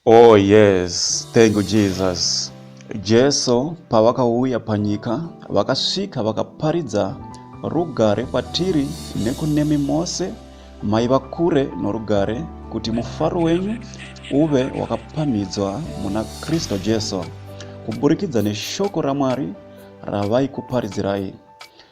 Oh yes, thank you Jesus. Jesu pavakauya panyika vakasvika vakaparidza rugare kwatiri nekunemi mose maiva kure norugare kuti mufaro wenyu uve wakapamhidzwa muna Kristu Jesu kuburikidza neshoko raMwari ravaikuparidzirai.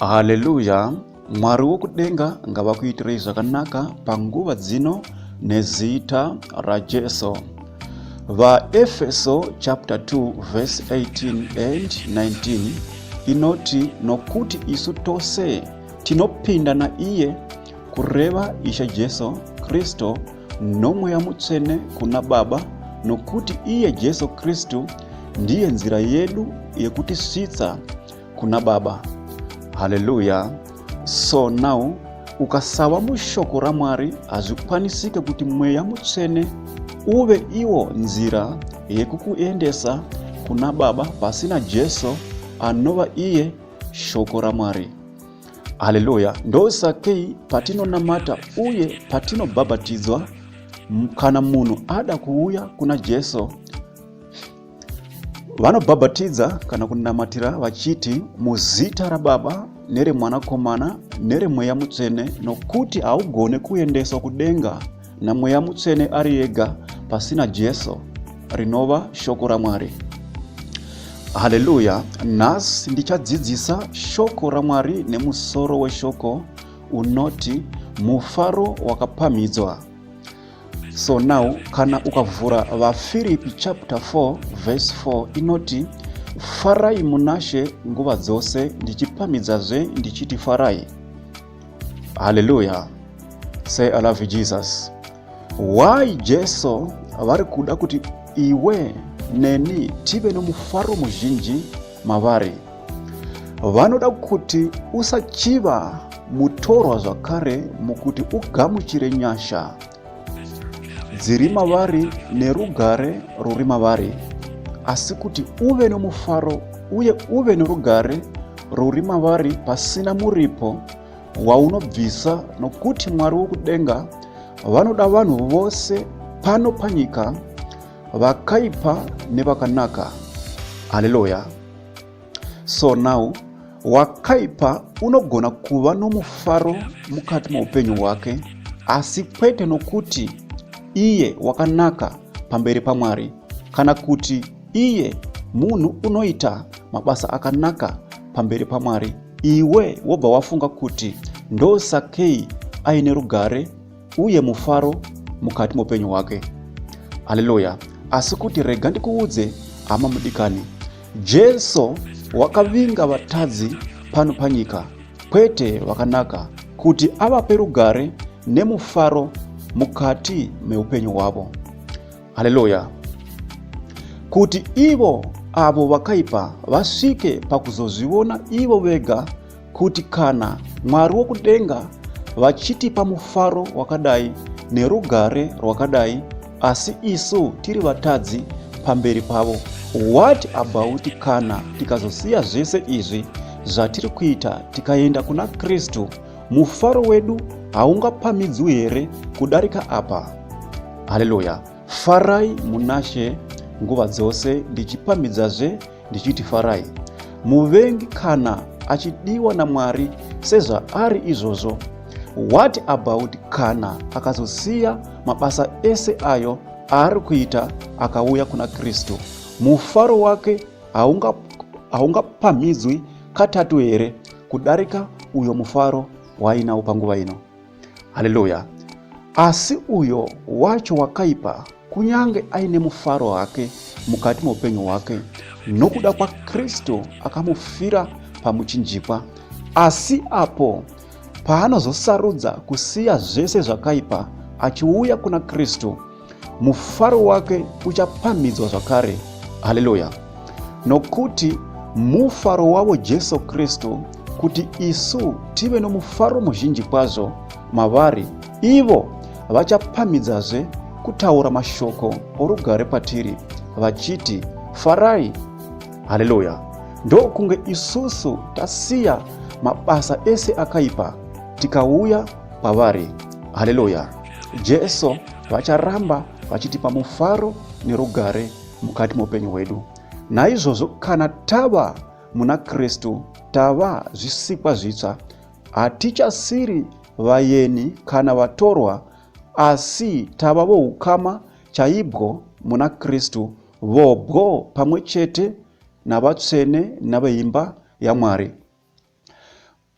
haleluya mwari wokudenga ngavakuitirei zvakanaka panguva dzino nezita rajesu vaefeso chapter 2 verse 18 and 19 inoti nokuti isu tose tinopinda naiye kureva ishe jesu kristu nomweya mutsvene kuna baba nokuti iye jesu kristu ndiye nzira yedu yekutisvitsa kuna baba haleluya so now ukasava mushoko ramwari hazvikwanisike kuti mweya mutsvene uve iwo nzira yekukuendesa kuna baba pasina jesu anova iye shoko ramwari haleluya ndosakei patinonamata uye patinobhabhatidzwa kana munhu ada kuuya kuna jesu Vanobhabhatidza kana kunamatira vachiti muzita raBaba neremwanakomana neremweya mutsvene nokuti haugone kuendeswa kudenga namweya mutsvene ari ega pasina Jesu rinova shoko raMwari. Haleluya! Nhasi ndichadzidzisa shoko raMwari nemusoro weshoko unoti mufaro wakapamhidzwa. So now kana ukavhura vaFiripi chapter 4 verse 4 inoti farai munashe nguva dzose ndichipamidzazve ndichiti farai. Haleluya. Say I love you Jesus. Why Jesu vari kuda kuti iwe neni tive nomufaro muzhinji mavari. Vanoda kuti usachiva mutorwa zvakare mukuti ugamuchire nyasha dziri mavari nerugare ruri mavari, asi kuti uve nomufaro uye uve norugare ruri mavari pasina muripo waunobvisa, nokuti Mwari wokudenga vanoda vanhu vose pano panyika vakaipa nevakanaka haleluya so now wakaipa unogona kuva nomufaro mukati meupenyu hwake asi kwete nokuti iye wakanaka pamberi pamwari kana kuti iye munhu unoita mabasa akanaka pamberi pamwari iwe wobva wafunga kuti ndosakei aine rugare uye mufaro mukati moupenyu hwake haleluya asi kuti rega ndikuudze hama mudikani jesu wakavinga vatadzi pano panyika kwete vakanaka kuti avape rugare nemufaro mukati meupenyu hwavo haleluya kuti ivo avo vakaipa vasvike pakuzozviona ivo vega kuti kana Mwari wokudenga vachitipa mufaro wakadai nerugare rwakadai asi isu tiri vatadzi pamberi pavo what about kana tikazosiya zvese izvi zvatiri kuita tikaenda kuna kristu mufaro wedu haungapamidzwi here kudarika apa haleluya farai munashe nguva dzose ndichipamidzazve ndichiti farai muvengi kana achidiwa namwari sezvaari izvozvo what about kana akazosiya mabasa ese ayo aari kuita akauya kuna kristu mufaro wake haungapamhidzwi haunga katatu here kudarika uyo mufaro waainawo panguva ino haleluya asi uyo wacho wakaipa kunyange aine mufaro hake mukati meupenyu hwake nokuda kwakristu akamufira pamuchinjikwa asi apo paanozosarudza kusiya zvese zvakaipa achiuya kuna kristu mufaro wake uchapamhidzwa zvakare haleluya nokuti mufaro wavo jesu kristu kuti isu tive nomufaro muzhinji kwazvo mavari ivo vachapamhidzazve kutaura mashoko orugare kwatiri vachiti farai haleluya ndokunge isusu tasiya mabasa ese akaipa tikauya kwavari. Haleluya! Jesu vacharamba vachitipa mufaro nerugare mukati meupenyu hwedu. Naizvozvo kana tava muna Kristu, tava zvisikwa zvitsva, hatichasiri vayeni kana vatorwa, asi tava voukama chaibwo muna Kristu, vobwo pamwe chete navatsvene naveimba yaMwari.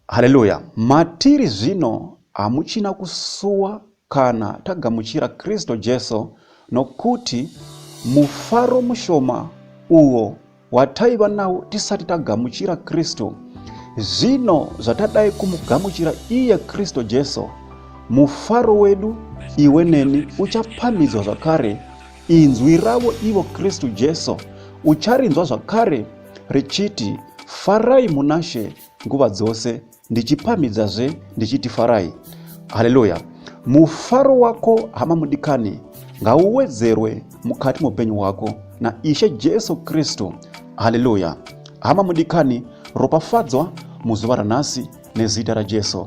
Haleluya! Matiri zvino hamuchina kusuwa kana tagamuchira Kristo Jesu, nokuti mufaro mushoma uwo wataiva nawo tisati tagamuchira Kristo, zvino zvatadai kumugamuchira iye Kristo Jesu, mufaro wedu iwe neni uchapamhidzwa zvakare, inzwi ravo ivo Kristo Jesu ucharinzwa zvakare richiti, Farai munaShe! nguva dzose ndichipamhidzazve ndichiti farai haleluya mufaro wako hama mudikani ngauwedzerwe mukati meupenyu hwako naishe jesu kristu haleluya hama mudikani ropafadzwa muzuva ranhasi nezita rajesu